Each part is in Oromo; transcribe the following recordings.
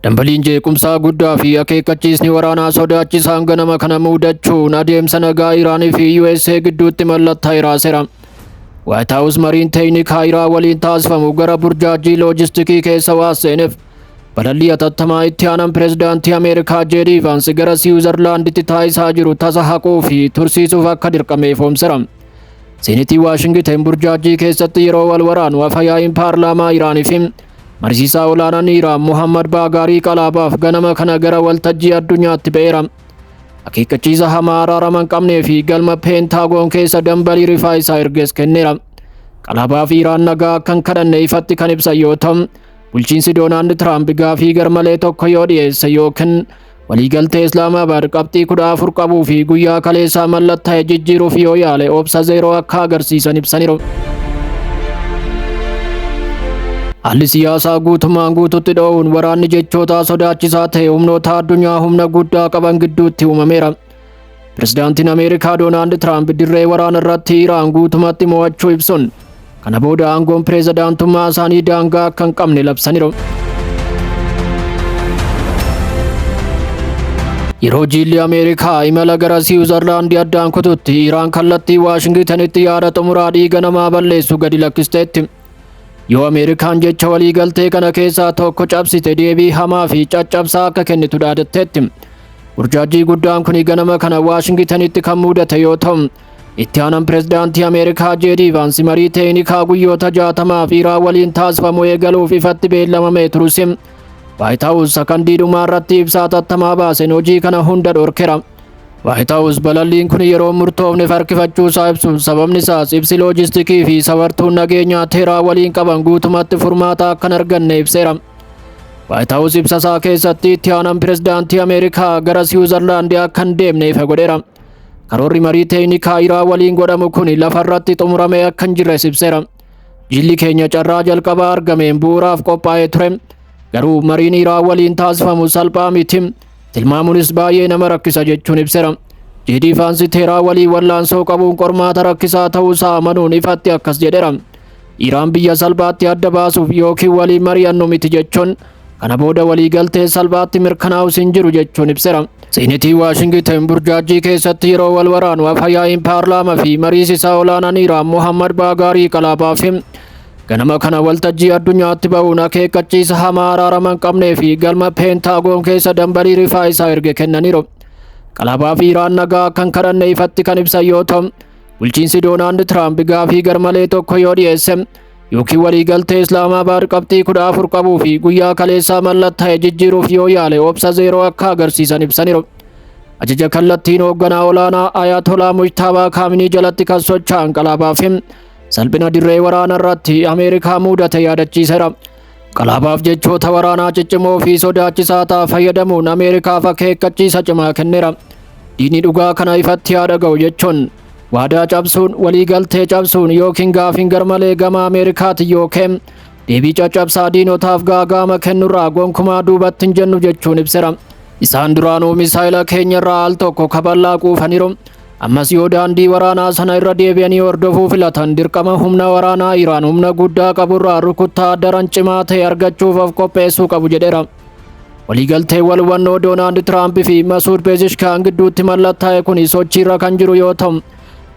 Dambaliin jeequmsaa guddaa fi akeekkachiisni waraanaa sodaachisaan ganama kana muudachuun adeemsa nagaa Iraanii fi USA gidduutti mallattaa'eera seera. Waayit Haawus mariin teeknikaa Iraan waliin taasifamu gara burjaajii loojistikii keessa waan seeneef balallii hatattamaa itti aanan pirezidaantii Ameerikaa Jeedii Vaansi gara Siwiizarlaanditti taasisaa jiru tasa haquu fi tursiisuuf akka dirqame ifoomsera. Seenitii Waashingiteen burjaajjii keessatti yeroo wal waraanu afayaa'iin paarlaamaa Iraanii fi mariisisaa olaanaan Iraan Muhammad Baagaarii qalaabaaf ganama kana gara waltajjii addunyaatti ba'eera. Akeekkachiisa hamaa araarama hin qabnee fi galma peentaagoon keessa dambalii rifaa isaa ergees kenneera. Qalaabaa fi Iraan nagaa akka hin kadhanne ifatti kan ibsan yoo ta'u, bulchiinsi Doonaald Tiraamp gaafii garmalee tokko yoo dhiyeesse yookiin Waliigaltee Islaamaabaad qabxii kudha afur qabuu fi guyyaa kaleessaa mallattaa'e jijjiiruuf yoo yaale obsa zeeroo akka agarsiisan ibsaniiru. Haalli siyaasaa guutumaan guututti dho'uun waraanni jechootaa sodaachisaa ta'e humnoota addunyaa humna guddaa qaban gidduutti uumameera. Pirezidaantiin Ameerikaa Doonaald Tiraamp dirree waraana irratti Iraan guutumatti mo'achuu ibsuun kana booda aangoon pirezidaantummaa isaanii daangaa akka hin qabne labsaniiru. Yeroo jiilli Ameerikaa imala gara Siwiizarlaandii addaan kututti Iraan kallattii Waashingitanitti yaada xumuraa dhiiga namaa balleessu gadi lakkisteetti. Yoo Ameerikaan jecha waliigaltee kana keessaa tokko cabsite deebii hamaa fi caccabsaa akka kennitu dhaadatteetti. Burjaajjii guddaan kun ganama kana Waashingitanitti kan mudate yoo ta'u, itti aanan pirezidaantii Ameerikaa Jeedii Vaansi marii teeknikaa guyyoota jaatamaaf Iraan waliin taasifamu eegaluuf ifatti beellamamee turus Waayit Haawus sakandii dhumaa irratti ibsaa tattamaa baaseen hojii kana hunda dhorkera. Waayit Haawus balalliin kun yeroo murtoofneef harkifachuu isaa ibsuun sababni isaas ibsi loojistikii fi safartuun nageenyaa teeraa waliin qaban guutumatti furmaata akka hin arganne ibseera. Waayit Haawus ibsa isaa keessatti itti aanaan pirezidaantii Ameerikaa gara Siwiizarlaandi akka hin deemne ifa godheera. Karoorri marii teeknikaa Iraa waliin godhamu kun lafa irratti xumuramee akka hin jirres ibseera. Jilli keenya carraa jalqabaa argameen bu'uuraaf qophaa'ee ture. Garuu mariin Iraa waliin taasifamu salphaa miti. Tilmaamunis baay'ee nama rakkisa jechuun ibsera. Jiidii faansi teeraa walii wallaansoo qabuun qormaata rakkisaa ta'uu isaa amanuun ifatti akkas jedhera. Iraan biyya salphaatti adda baasuuf yookiin walii mari'annu miti jechuun kana booda walii galtee salphaatti mirkanaa'us hin jiru jechuun ibsera. Siinitii Waashingitan burjaajjii keessatti yeroo wal waraanu afayaa'iin paarlaamaa fi mariisisaa olaanaan Iraan Mohammad Baagaarii Qalaabaafii Ganama kana waltajjii addunyaatti ba'uun akeekkachiisa hamaa araarama hin qabnee fi galma peentaagoon keessa dambalii rifaa isaa erge kennaniiru. Qalabaa fi Iraan nagaa akka hin kadhanne ifatti kan ibsan yoo ta'u, bulchiinsi Doonaald Tiraamp gaafii garmalee tokko yoo dhiyeesse yookiin waliigaltee Islaamaabaad qabxii kudha afur qabuu fi guyyaa kaleessaa mallatta'e jijjiiruuf yoo yaale obsa zeeroo akka agarsiisan ibsaniiru. Ajaja kallattiin hoogganaa olaanaa Ayatolaa Mujtaabaa Kaaminii jalatti kan socho'an qalabaa fi Salphina dirree waraana irratti Ameerikaa muudate yaadachiisera. Qalaabaaf jechoota waraanaa ciccimoo fi sodaachisaa ta'a fayyadamuun Ameerikaaf akeekkachiisa cimaa kennera. Diinni dhugaa kana ifatti haa dhaga'u jechuun waadaa cabsuun waliigaltee cabsuun yookiin gaafiin garmalee gama Ameerikaati yookiin deebii caccabsaa diinotaaf gaagaama kennurraa gonkumaa duubatti hin jennu jechuun ibsera. Isaan duraanuu misaayila keenyarraa al tokko kaballaa quufaniru. Ammas yoo daandii waraanaa sana irra deebi'anii hordofuu filatan dirqama humna waraanaa Iraan humna guddaa qaburraa rukuttaa daran cimaa ta'e argachuuf of qopheessuu qabu jedheera. Waliigalteen wal hubannoo Doonaald Tiraamp fi Masuud Peezishkaan gidduutti mallattaa'e kun sochiirra kan jiru yoo ta'u,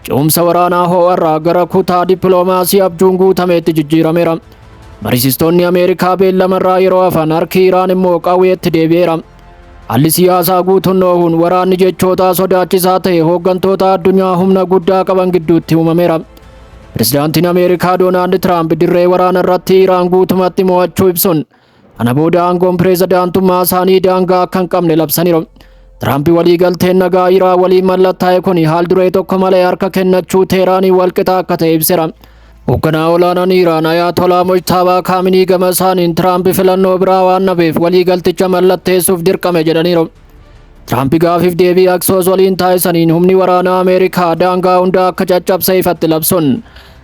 ce'umsa waraanaa hoo'arraa gara kutaa dippiloomaasii abjuun guutameetti jijjiirameera. Mariisistoonni Ameerikaa beellamarraa yeroo hafan harki Iraan immoo qawweetti deebi'eera. Haalli siyaasaa guutuun noohuun waraanni jechootaa sodaachisaa ta'e hooggantoota addunyaa humna guddaa qaban gidduutti uumameera. Pirezidaantiin Ameerikaa Doonaald Tiraamp dirree waraana irratti Iraan guutumatti mo'achuu ibsuun kana booda aangoon pirezidaantummaa isaanii daangaa akka hin qabne labsaniiru. Tiraamp waliigalteen nagaa Iraan waliin mallattaa'e kun haal duree tokko malee harka kennachuu Teeraanii walqixa akka ta'e ibseera. Hoogganaa olaanaan Iraan Ayaatolaa Mojtaabaa Kaaminii gama isaaniin Tiraampi filannoo biraa waan dhabeef waliigalticha mallatteessuuf dirqame jedhaniiru. Tiraampi gaafiif deebii Aksoos waliin taasisaniin humni waraanaa Ameerikaa daangaa hundaa akka caccabse ifatti labsuun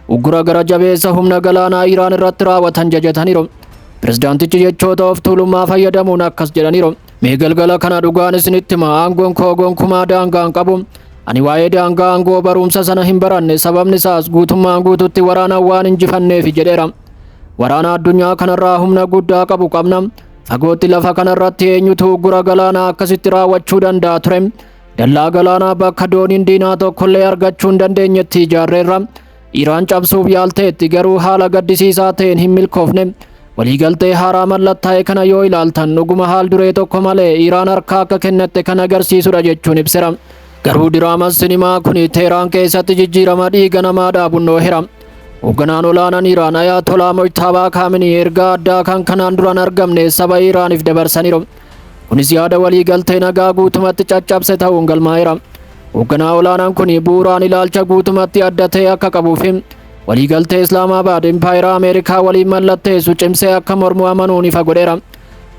uggura gara jabeessa humna galaanaa Iraan irratti raawwatan jajataniiru. Pirezidaantichi jechoota of tuulummaa fayyadamuun akkas jedhaniiru. Mee galgala kana dhugaan isinitti hima aangoon koo gonkumaa daangaa hin qabu. Ani waa'ee daangaa aangoo barumsa sana hin baranne sababni isaas guutummaan guututti waraanaan waan injifanneefi jedheera. Waraana addunyaa kanarraa humna guddaa qabu qabna. Fagootti lafa kanarratti eenyutu uggura galaanaa akkasitti raawwachuu danda'a ture. Dallaa galaanaa bakka dooniin diinaa tokkollee argachuu hin dandeenyetti ijaarreerra. Iraan cabsuuf yaalteetti garuu haala gaddisiisaa ta'een hin milkoofne. Waliigaltee haaraa mallattaa'e kana yoo ilaaltan dhuguma haal duree tokko malee Iraan harkaa akka kennatte kan agarsiisudha jechuun ibsera. Garuu diraamaan sinimaa kun Teeraan keessatti jijjiirama dhiiga namaa dhaabun dhoohera. Hoogganaan olaanaan Iraan Ayaatolaa Mojtaabaa Kaaminii ergaa addaa kan kanaan duraan argamne saba Iraaniif dabarsaniiru. Kunis yaada waliigaltee nagaa guutumatti caccabse ta'uun galmaa'eera. Hoogganaa olaanaan kun bu'uuraan ilaalcha guutumatti adda ta'e akka qabuu fi waliigaltee Islaamaabaad Impaayera Ameerikaa waliin mallatteessu cimsee akka mormu amanuun ifa godheera.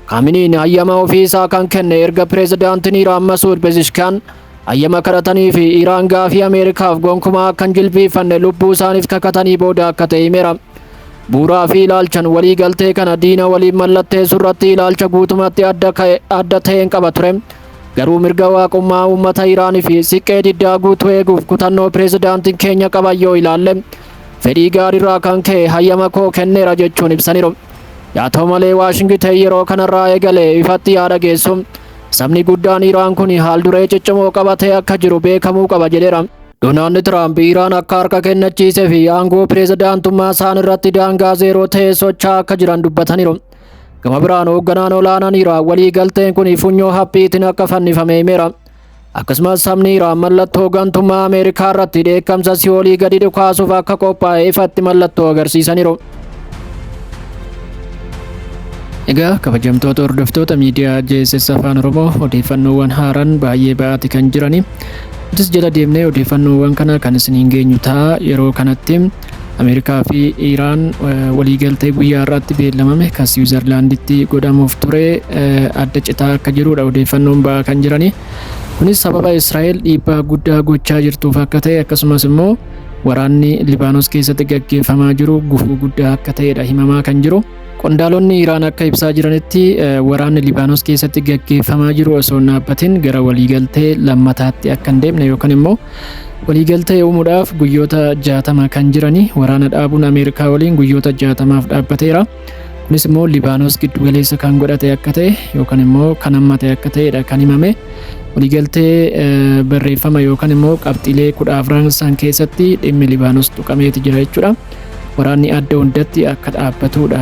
Kaaminiin hayyama ofii isaa kan kenne erga pireezidaantiin Iraan Masuud Pezishkaan hayyama kadhatanii fi Iraan gaafii Ameerikaaf gonkumaa akka hin jilbiifanne lubbuu isaaniif kakatanii booda akka ta'e himeera. Bu'uuraa fi ilaalchan waliigaltee kana diina waliin mallatteessu irratti ilaalcha guutumatti adda ka'e- adda ta'een qaba ture. Garuu mirga waaqummaa uummata Iraan fi siqqee diddaa guutuu eeguuf kutannoo pireezidaantiin keenya qaban yoo ilaalle fedhii gaariirraa kan ka'e hayyama koo kenneera jechuun ibsaniiru. Yaa ta'u malee Waashingiten yeroo kanarraa eegalee ifatti yaa dhageessu. Sabni guddaan Iraan kun haal duree ciccimoo qabatee akka jiru beekamuu qaba jedheera. Doonaald Tiraamp Iraan akka harka kennachiisee fi aangoo pireezidaantummaa isaan irratti daangaa zeeroo ta'e socho'aa akka jiran dubbataniiru. Gama biraan hoogganaan olaanaan Iraan walii galteen kun funyoo haphiitiin akka fannifame himeera. Akkasumas sabni Iraan mallattoo gantummaa Ameerikaa irratti dheekkamsa si'oolii gadi dhukaasuuf akka qophaa'e ifatti mallattoo agarsiisaniiru. Egaa kabajamtoota hordoftoota miidiyaa JSS Afaan Oromoo odeeffannoowwan haaraan baay'ee ba'aati kan jirani. Nutis jala deemnee odeeffannoowwan kana kan isiniin geenyu ta'a yeroo kanatti Ameerikaa fi Iraan waliigaltee guyyaa har'aatti beellamame kan Siwiizarlaanditti godhamuuf ture adda citaa akka jirudha odeeffannoon ba'aa kan jiranii. Kunis sababa Israa'el dhiibbaa guddaa gochaa jirtuuf akka ta'e akkasumas immoo waraanni Libaanos keessatti gaggeeffamaa jiru gufuu guddaa akka ta'edha himamaa kan jiru. Qondaalonni Iraan akka ibsaa jiranitti waraanni Libaanos keessatti gaggeeffamaa jiru osoo hin dhaabbatin gara waliigaltee lammataatti akka hin deemne yookaan immoo waliigaltee uumuudhaaf guyyoota jaatama kan jirani waraana dhaabuun Ameerikaa waliin guyyoota jaatamaaf dhaabbateera. Kunis immoo Libaanos giddugaleessa kan godhate akka ta'e yookaan immoo kan hammate akka ta'edha kan himame. Waliigaltee barreeffama yookaan immoo qabxiilee kudha afran san keessatti dhimmi Libaanos tuqameeti jira jechuudha. Waraanni adda hundatti akka dhaabbatuudha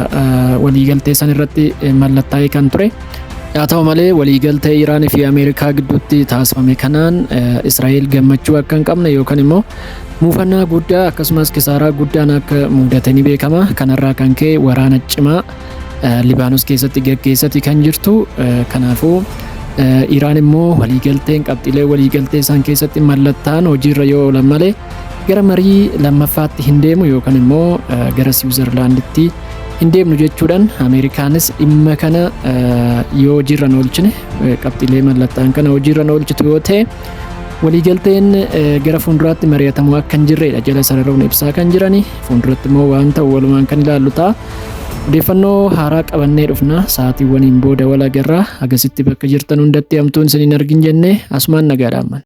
waliigaltee san irratti mallattaa'ee kan ture. Haa ta'u malee waliigaltee Iraan fi Ameerikaa gidduutti taasifame kanaan Israa'el gammachuu akka hin qabne yookaan immoo muufannaa guddaa akkasumas kisaaraa guddaan akka mudate ni beekama. Kanarraa kan ka'e waraana cimaa Libaanos keessatti gaggeessati kan jirtu. Kanaafuu Iraan immoo waliigalteen qabxiilee waliigaltee isaan keessatti mallattaan hojiirra yoo oolan malee gara marii lammaffaatti hin deemu yookaan immoo gara Siwiizerlaanditti hin deemnu jechuudhaan Ameerikaanis dhimma kana yoo hojiirra hin oolchine qabxiilee mallattaan kana hojiirra hin oolchitu yoo ta'e waliigalteen gara fuulduraatti mari'atamuu akka hin jirredha jala sararuun ibsaa kan jirani fuulduratti immoo waan ta'u walumaan kan ilaallu ta'a. Odeeffannoo haaraa qabannee dhufna. Sa'aatiiwwaniin booda wal agarra. Hagasitti bakka jirtan hundatti hamtuun isin hin argin jennee asumaan nagaa dhaammanna.